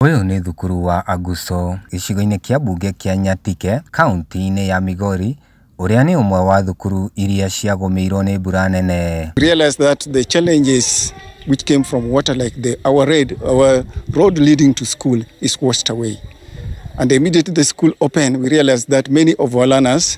Ũyũ nĩ thukuru wa Aguso gĩcigo-inĩ kĩa mbunge kĩa Nyatike, kauntĩ-inĩ ya Migori, ũrĩa nĩ ũmwe wa thukuru iria ciagũmĩirwo nĩ mbura nene. realized that the challenges which came from water, like the our road, our road leading to school is washed away. And immediately the school opened, we realized that many of our learners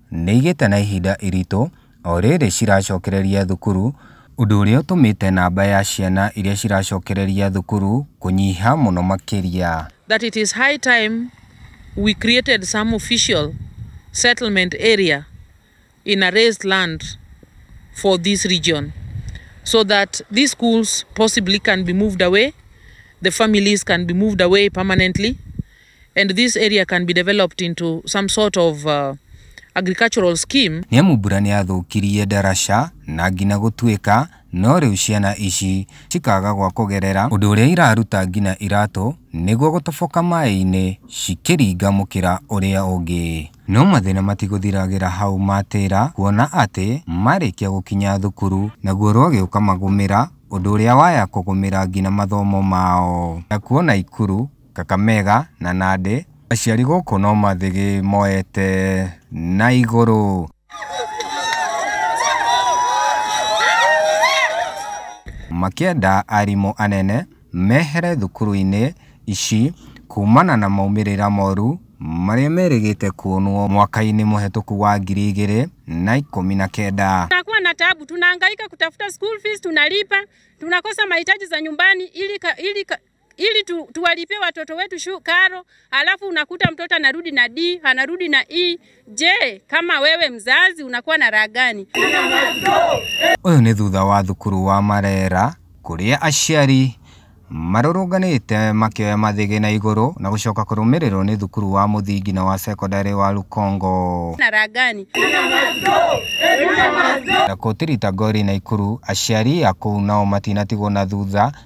nĩ igĩte na ihinda iritũ o rĩrĩ ciracokereria thukuru, ũndũ ũrĩa ũtũmĩte namba ya ciana iria ciracokereria thukuru kũnyiha mũno makĩria. that it is high time we created some official settlement area in a raised land for this region so that these schools possibly can be moved away, the families can be moved away permanently. and this area can be developed into some sort of uh, agricultural scheme. Nĩ amu mbura nĩyathũkirie ndaraca na ngina gũtuĩka no rĩu ciana ici cikaga gwa kũgerera ũndũ ũrĩa iraruta ngina iratũ nĩguo gũtoboka maĩ-inĩ cikĩringa mũkĩra ũrĩa ũngĩ. No mathĩna matigũthiragĩra hau matĩra kuona atĩ marĩkia gũkinya thukuru naguo rwagĩ ũkamagũmĩra ũndũ ũrĩa waya kũgũmĩra ngina mathomo mao. Nakuo Naikuru Kakamega na Nandi. Aciari gũkũ no mathĩgĩ moete na igũrũ. Makĩenda arimũ anene mehere thukuru-inĩ ici kumana na maumĩrĩra moru marĩa merĩgĩte kuonwo mwaka-inĩ mũhetũku wa ngiri igĩrĩ na ikũmi na kenda. Tunakuwa na tabu, tunahangaika kutafuta school fees, tunalipa, tunakosa mahitaji za nyumbani ili, ili ili tu, tuwalipie watoto wetu shu, karo, alafu unakuta mtoto anarudi na D, anarudi na E. Je, kama wewe mzazi unakuwa na raha gani? Ũyũ nĩ thutha wa thukuru wa Marera kũrĩa aciari marũrũnganĩte makĩoya mathĩgĩ na igũrũ na gũcoka kũrũmĩrĩrwo nĩ thukuru wa mũthingi na wa sekondarĩ wa Lukongo. Na raha gani? Na kũtirita ngori na ikuru aciari a kũu nao matinatigwo na thutha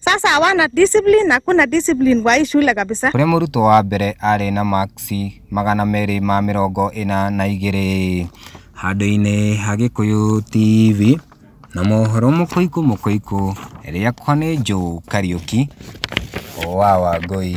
Sasa hawana discipline, hakuna discipline kwa hii shule kabisa. Kũrĩ mũrutwo wa mbere arĩ na maksi magana merĩ ma mĩrongo ĩna na igĩrĩ. Handũ-inĩ ha Gĩkũyũ TV na mohoro mũkũikũ mũkũikũ, rĩakwa nĩ Joe Kariũki wa Wangũi.